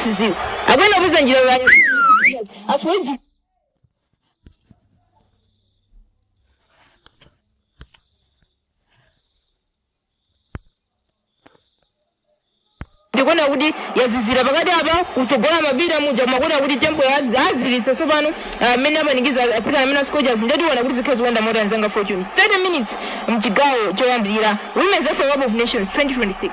siziwa akuyenda kupeza njira yake asweji ndikuona kuti yazizira pakati apa kutsogola mapita muja ndikumaona kuti tempo yaziziritsa tsopano mmene apanikiza atsikana amenewa Scorchers ndiye tiona kuti zikhala zikuyenda motani anzanga fortune 30 minutes mchigawo choyambirira women's afcon cup of nations 2026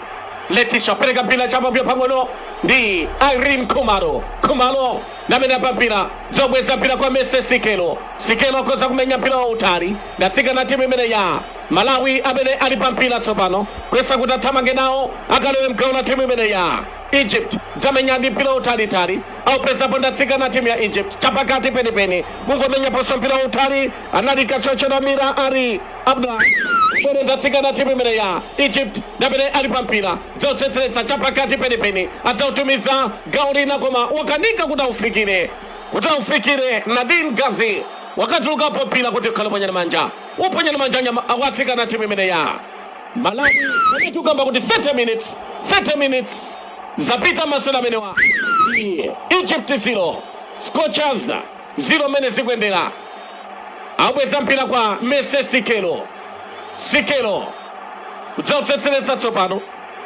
letisha pereka mpira chapapira pang'ono ndi Irene Khumalo. Khumalo ndi amene ali pampira dzabweza mpira kwa Mercy Sikelo. Sikelo akhoza kumenya mpira wautali ndi atsikana a timu imeneyi ya Malawi amene ali pa mpira tsopano kuyesa kuti athamange nawo akalowe mgawo la timu imeneyi ya Egypt dzamenya ndi mpira wautalitali aupezapo ndi atsikana a timu ya Egypt chapakati penipeni kungomenyaponso mpira wautali anali kachotsa ndi Mira ari Abdullah Sore ndi atsikana a timu imeneyi ya Egypt ndi amene ali pa mpira dzotsetseretsa chapakati penipeni adzautumiza gawo lina koma wakanika kuti aufikire kuti aufikire Nadine Gazi wakatulukapo mpira kuti ukhale woponya ndi manja woponya ndi manja nyama kwa atsikana a timu imeneyi ya Malawi ndikukamba kuti 30 minutes 30 minutes zapita masewera amenewa Ndi Egypt 0 Scorchers ziro mmene zikuyendera abweza mpira kwa mercy sikelo sikelo kudzawutsetseretsa tsopano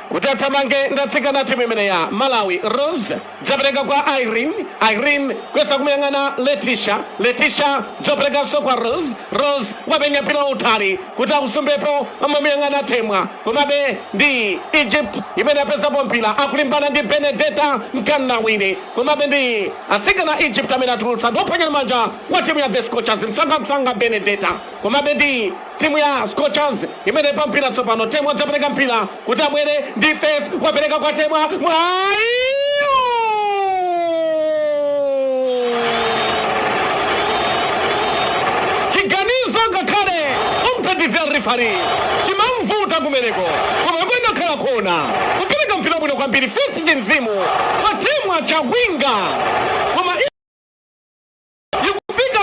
kuti athamange ndi atsikana a timu imeneyi ya malawi rose dzapereka kwa irene irene kuyesa kumuyang'ana letisha letisha dzoperekanso kwa rose rose wamenya mpira wautali kuti akusumbepo amamuyang'ana temwa komabe ndi egypt imene yapezapo mpira akulimbana ndi benedeta mkandawire Komabe ndi atsikana a Egypt amene atulutsa ndi woponya ndi manja wa timu ya The Scorchers msanga msanga Benedetta. Komabe ndi timu ya Scorchers imene ili pa mpira tsopano Temwa adzapereka mpira kuti abwere ndi Faith wapereka kwa Temwa mwayiwo chiganizo ngakhale wothandizira rifari chinamvuta kumeneko koma bwenzi akhala akuona kupereka mpira bwino kwambiri Faith ndi mzimu wa Temwa Chawinga koma ikufika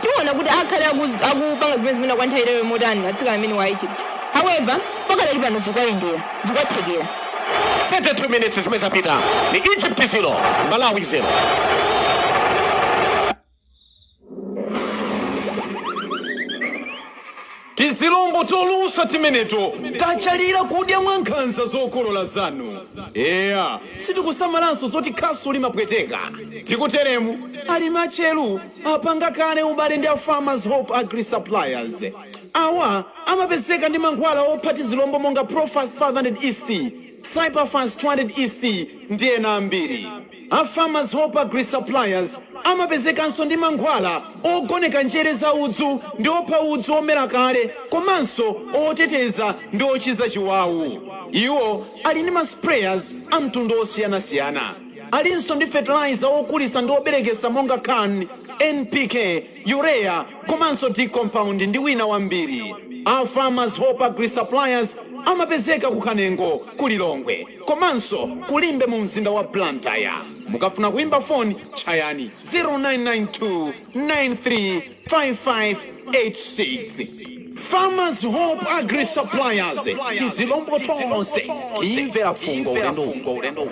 Tiona kuti akhale akuz, akupanga zimene zimene kwa nthawi yaitali motani atsikana amenewa a Egypt. However, pakadali pano zikwayendera, zikwathekera. 32 minutes zimene zapita ndi Egypt 0 Malawi 0. Tizilombo tolusa timeneto tachalira kudya mwankhanza zokolola zanu. Eya, sitikusamalanso zoti khasu limapweteka. Tikuteremu, alimi atcheru apanga kale ubale ndi a Farmers Hope Agri Suppliers. Awa amapezeka ndi mankhwala opha tizilombo monga Profas 500 EC, Cyperfas 200 EC ndi ena ambiri. A Farmers Hope Agri Suppliers amapezekanso ndi mankhwala ogoneka njere za udzu ndi opha udzu omera kale komanso oteteza ndi ochiza chiwawu. Iwo ali ndi ma sprayers a mtundu osiyanasiyana. Alinso ndi fertilizer wokulitsa ndi wobereketsa monga Can, NPK, Urea komanso D compound ndi wina wambiri. A Farmers Hope Agri Suppliers amapezeka ku Kanengo ku Lilongwe komanso ku Limbe mu mzinda wa Blantyre. Mukafuna kuimba foni tchayani 0992935586. Farmers Hope Agri Suppliers, tizilombo tonse timvera fungo ulendo uno.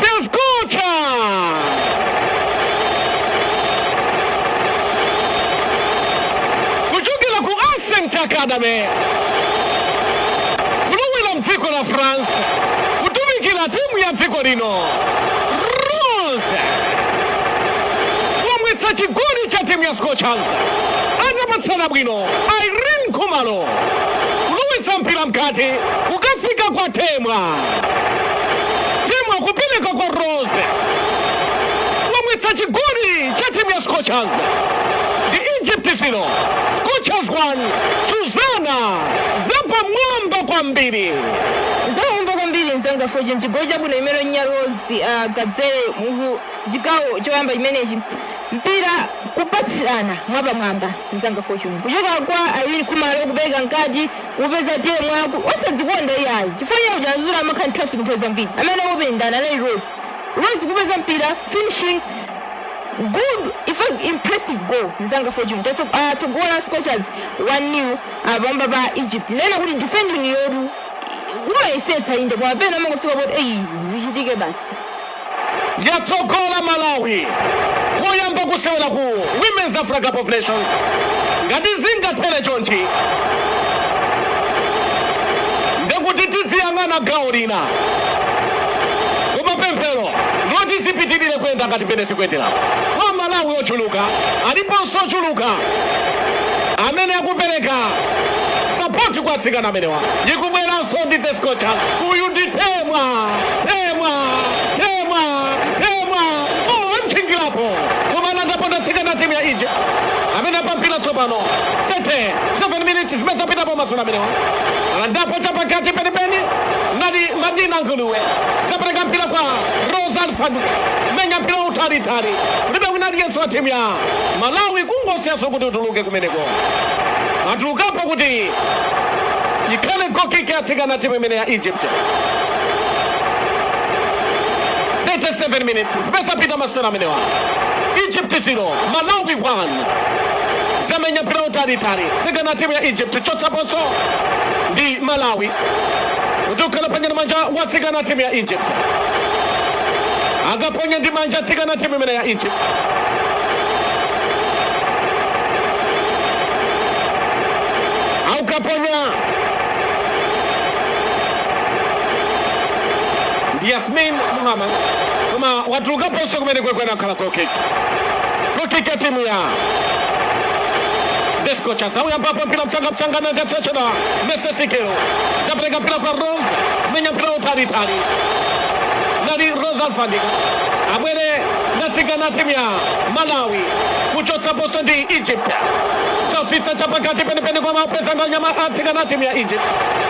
The Scorchers! Kuchokera ku Ascent Academy kulowera mdziko la France kutumikira timu ya dziko lino Rose wamwetsa chigoli cha timu ya Scorchers atapatsana bwino Irene Khumalo kulowetsa mpira mkati kukafika kwa Temwa temwa kupereka kwa rose wamwetsa chigoli cha timu ya scorchers ndi egypt 0 scorchers 1 suzana zapamwamba kwambiri zowomba kwambiri mzanga fortune chigoli chabwino chimene wamwetsa rose kadzere mu chigawo choyamba chimenechi mpira kupatsirana mwapamwamba mzanga fortune kuchoka kwa irene khumalo kupereka mkati Kupeza Temwa osadzikonda iyayi chifukwa iye uja as usual amakhala ndi traffic nthawi zambiri amene anawopa ndani anali Rose Rose kupeza mpira finishing good in fact impressive goal mzanga fortune yatsogola scorchers 1-0 pamwamba pa Egypt kunena kuti defending yawo amayesetsa inde koma pena amangofika poti eyi zichitike basi yatsogola malawi koyamba kusewera ku women's africa cup of nations ngati zingathere chonchi ndekuti tidziyang'ana gawo lina koma pemphero loti zipitirire kuyenda ngati mmene zikuyendera kwa malawi ochuluka aliponso ochuluka amene akupereka sapoti kwa atsikana amenewa ikubweranso ndi the scorchers uyu ndi temwa temwa temwa temwa oh, amtchingilapo kumalandapo ndi atsikana timu ya egypt amene apampila tsopano 37 minutes zimene zapitapo masewera amenewa alandapo chapakati penipeni nali madina nguluwe zapereka mpira kwa rose alfandika menya mpira utalitali kulibe wina aliyense wa timu ya malawi kungosiyanso kuti utuluke kumeneko atulukapo kuti ikhale goal kick atsikana timu imene ya egypt 37 minutes zimene zapita masewera amenewa egypt 0 malawi 1 zamenya mpira utalitali atsikana timu ya egypt chotsaponso ndi malawi kutuluka ponya ndi manja wa atsikana timu ya egypt akaponya ndi manja atsikana timu imene ya egypt aukaponya ndi Yasmin Muhammad koma watulukaponso kumeneko anakhala goal kick goal kick ya timu ya The Scorchers awuyambapo mpira mchanga mchanga na ngachocho na Mercy Sikelo zapeleka mpira kwa Rose menya mpira utalitali nali Rose Alfandika abwere ndi atsikana timu ya Malawi kuchotsaponso ndi Egypt zatsitsa chapakati penipeni kumaupeza ndi anyama- atsikana timu ya Egypt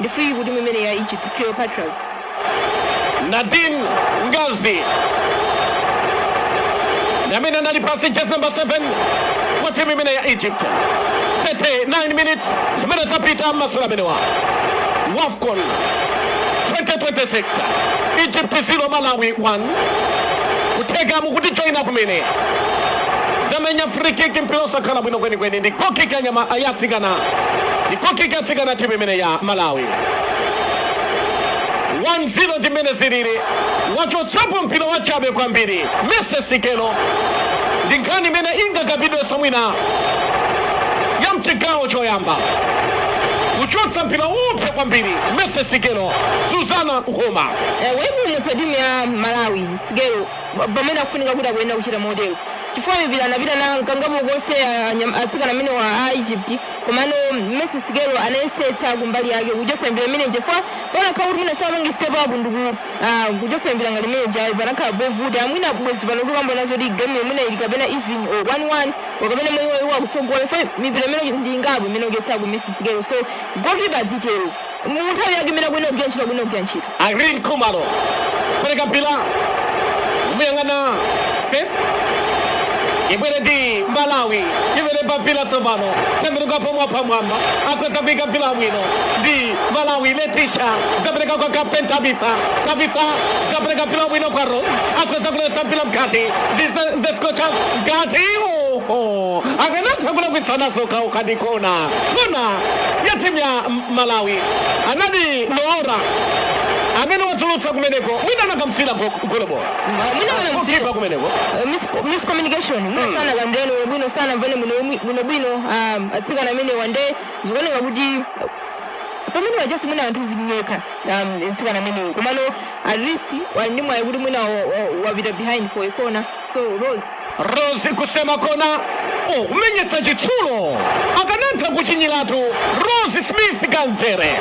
ndi free kick timu imene ya Egypt Cleopatras. Nadine Ghazi ndi amene anali pansi jezi number 7 kwa timu imene ya Egypt 39 minutes zimene zapita masewera amenewa WAFCON 2026 Egypt 0 Malawi 1 kutheka mukutijoina kumene zamenya free kick mpira osakhala bwino kwenikweni ndi goal kick ya anyama- ya atsikana Ndi goal kick ya atsikana timu imene ya Malawi 1-0 ndi mmene zilili. Wachotsapo mpira wachabe kwambiri Mercy Sikelo ndi nkhani imene ingakambidwenso mwina ya mchigawo choyamba kuchotsa mpira woopsya kwambiri Mercy Sikelo Suzana Nkhoma. Waipulumutsa timu ya Malawi Sikelo pamene akufunika kuti akuyenera kuchita motero chifukwa mipira anapita na kangapo konse anyam- atsikana amenewa a egypt komano mercy sikelo anayesetsa kumbali yake kuchotsa mipira imene chifukwa panakhala kuti mwina sapange step up ndiku ah, kuchotsa mipira ngati imene ijayo panakhala povuta mwina bwezi pano tikambana zokuti game imene ili kapena even or 1-1 or kapena mwina iwo akutsogola so mipira imene ndi ingapo imene wachotsako mercy sikelo so goalkeeper adzitero mu nthawi yake imene akuyenera kugwira ntchito akuyenera kugwira ntchito Irene Khumalo pereka mpira muyang'ana Faith ibwere ndi Malawi ibwere pa mpira tsopano tembenuka pomwe pamwamba akuyesa kuika mpira bwino ndi Malawi Letisha zapereka kwa Captain Tabitha Tabitha zapereka mpira bwino kwa Rose akuyesa kuletsa mpira mkati ndi the, the Scorchers mkati oho akanatha kulakwitsana okhaokha ndi kona Kona ya timu ya Malawi anali Noora amene watulutsa kumeneko mwina anakamsiyira goalkeeper kumeneko miscommunication sana kandeni bwino sanamvane bwino bwino um, atsikana amenewa ndiye zikuoneka kuti pamene wajasi mwina anthu zinyeka um, mtsikana ameneyo komano at least ndi mwayi kuti mwina wapita behind for a corner So Rose Rose kusema kona oh, kumenyetsa chitsulo akanatha kuchinyiratu Rose Smith Kadzere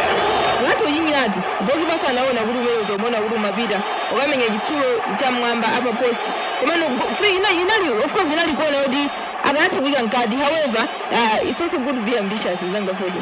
ngati uchinyiratu goalkeeper sanaona kuti umene utomona kuti umapita kukamenya chitsulo cham'mwamba upper post komano go- free ina inali of course inali kona yoti akanatha kuika mkati however uh, it's also good to be ambitious mzanga fojo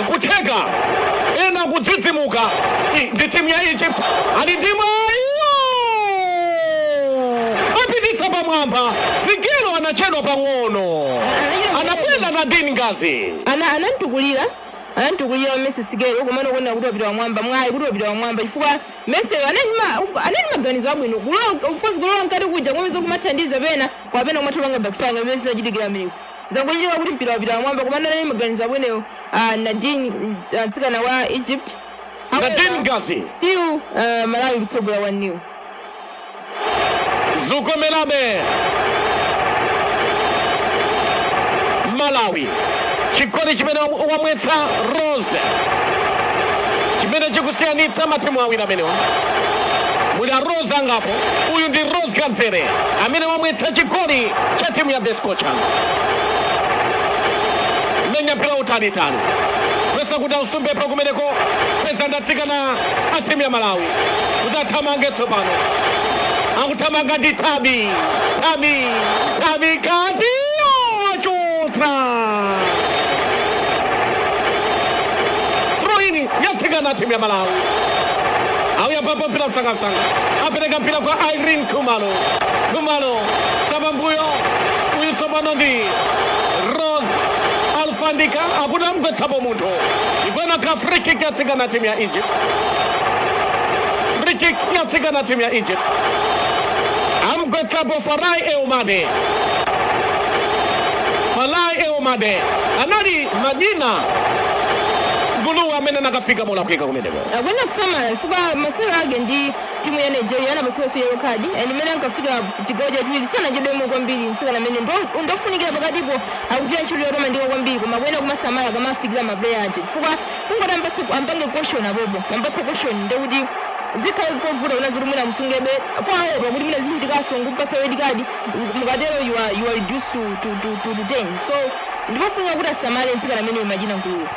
Nkutheka ena kudzidzimuka ndi timu ya Egypt ali ndi mwayi apititsa pamwamba Sikelo anachedwa pang'ono anapenda Nadine Ghazi ana anamtukulira anamtukulira Mercy Sikelo komano kuonera kuti wapita wamwamba mwayi kuti wapita wamwamba chifukwa Mercy anali ma anali maganizo abwino kulowa of course kulowa mkati kuja kumapeza kumathandiza pena koma pena kumatha kupanga backfire ngati zinachitikira mmeneko Zangochitika kuti mpira wapita pamwamba komano anali maganizo abwinowo a Nadine mtsikana wa Egypt. However, Nadine Ghazi. Still uh, Malawi kutsogola 1 nil. Zukomerabe. Malawi. Chigoli chimene wamwetsa Rose. Chimene chikusiyanitsa matimu awiri amenewa. Muli a Rose angapo. Uyu ndi Rose Kadzere amene wamwetsa chigoli cha timu ya the Scorchers menya mpira utalitali yesa kuti ausumbepo kumeneko peza ndi atsikana a timu ya malawi kuti athamange tsopano akuthamanga ndi tabi tabi tabi kati wachotsa throw-in ya atsikana a timu ya malawi auyambapo mpira msangamsanga apereka mpira kwa irene khumalo Khumalo chapambuyo uyu tsopano ndi rose alfandika akuti am'gwetsapo munthu ikhalanso free kick yatsikana timu ya egypt free kick yatsikana timu ya egypt amgwetsapo farai eumade farai eumade anali madina nguluwe amene anakafika molakwika kumeneko akuyenera kusamala chifukwa masewero ake ndi Timu ya Nigeria anapatsidwanso yellow card and mmene ankafika chigawo chachiwiri sanachedwemo kwambiri mtsikana amene ndi wofunikira pakatipo akugwira ntchito yotamandika kwambiri koma akuyenera kumasamala akamafikira maplayer aje chifukwa kungoti ampatse ampange caution apopo ampatse caution nde kuti zikhale zovuta kunena zoti mwina musungebe poopa kuti mwina zichitikaso n'kumupatsa red card mukatero you are, you are reduced to, to, to, to, to 10 so ndipofunika kuti asamale mtsikana ameneyi Madina Nguluwe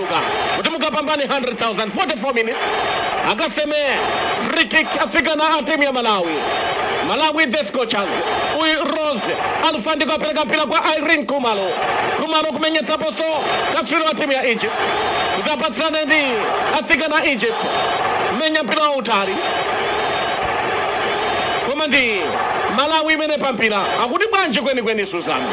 Mwasanduka kuti mukapambane 100,000 44 minutes akaseme free kick atsikana a timu ya Malawi Malawi the Scorchers uyu Rose Alfandika apereka mpira kwa Irene Khumalo Khumalo kumenyetsa posto katswiri wa timu ya Egypt kuti apatsirane ndi atsikana a Egypt menya mpira wautali koma ndi Malawi imene pampira akuti bwanji kwenikweni Suzana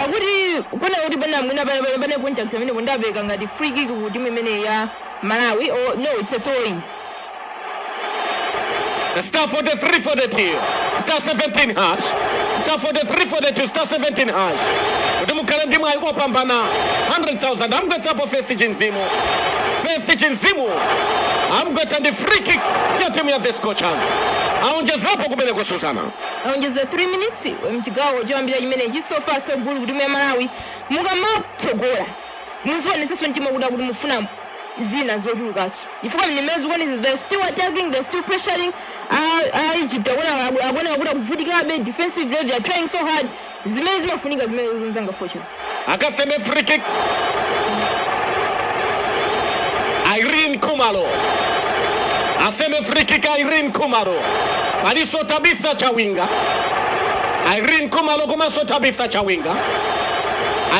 akuti Kuponela kuti pena mwina pena pena pena kunja pamene kuda mpeka ngati free kick ku timu imene ya Malawi or no it's a throw in. Star 43 42 star 17 hash star 43 42 star 17 hash kuti mukhale ndi mwayi opambana 100,000 amgwetsapo Faith Chinzimu Faith Chinzimu amgwetsa ndi free kick ya timu ya the Scorchers aonjezapo kumeneko Suzana Aonjeza 3 minutes mchigawo choyambira chimenechi so far so good kutimu ya Malawi mukamatsogola muzionesaso mtima kuti akuti mufuna zina zochulukaso chifukwa mmene zikuonesa they're still attacking they're still pressuring a, a Egypt akuona akuoneka kuti akuvutikabe defensively they're trying so hard zimene zimafunika zimenezo mzanga fortune akaseme free kick Irene Kumalo aseme free kick Irene Kumalo aliso Tabitha Chawinga Irene Kumalo komanso Tabitha Chawinga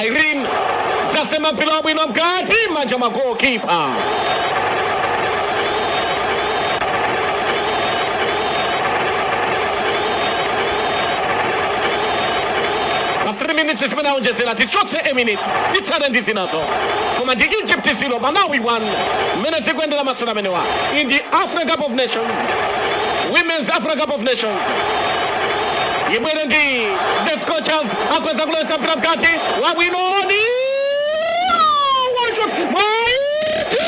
Irene zasema mpira wabwino mkati manja mwa goalkeeper pa 3 minutes zimene aonjezera tichotse a minute titsale ndi zinazo koma ndi egypt 0 malawi 1 mmene zikuyendera masewera amenewa in the africa cup of nations women's africa cup of nations ibwere ndi the scorchers akweza kulowetsa mpira mkati wabwino ndi wachot mwaiti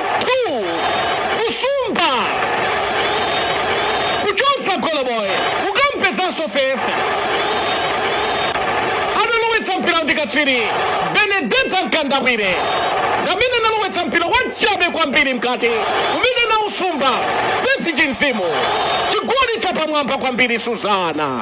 2 kusumba kuchotsa goloboyi kukampezanso faith analowetsa mpira ndi katswiri benedeta mkandawire ndamene analowetsa mpira wachape kwambiri mkati umene nausumba faith chinzimu chigoli chapamwamba kwambiri suzana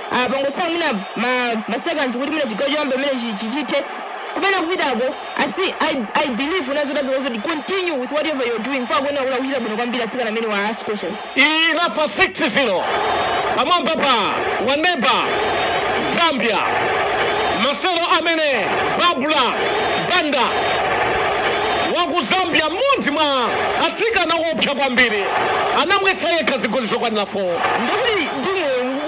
pangotsala mwina ma, ma seconds kuti mwina chigawo choyamba mmene chi- chi- chithe kumene kupitako I, thi- I, I believe and as I was, as kuti continue with whatever you're doing for akuoneka kuti akuchita bwino kwambiri atsikana amenewa a scorchers inafa 6-0 pamwamba pa aneba zambia masero amene barbra banda waku zambia mmodzi mwa atsikana opsa kwambiri anamwetsa yekha zigoli zokwanira 4 ndikuti timu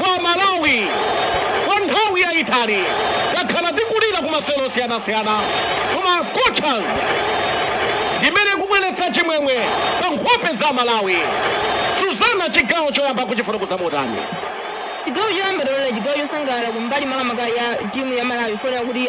Kwa Amalawi, kwa nthawi yaitali takhala tikulira kumasewero osiyanasiyana koma Scorchers ndi imene ikubweretsa chimwemwe pa nkhope za Amalawi. Suzana, chigawo choyamba ukuchifotokoza motani? Chigawo choyamba taonera chigawo chosangalala kumbali makamaka ya timu ya Malawi chifukwa kuti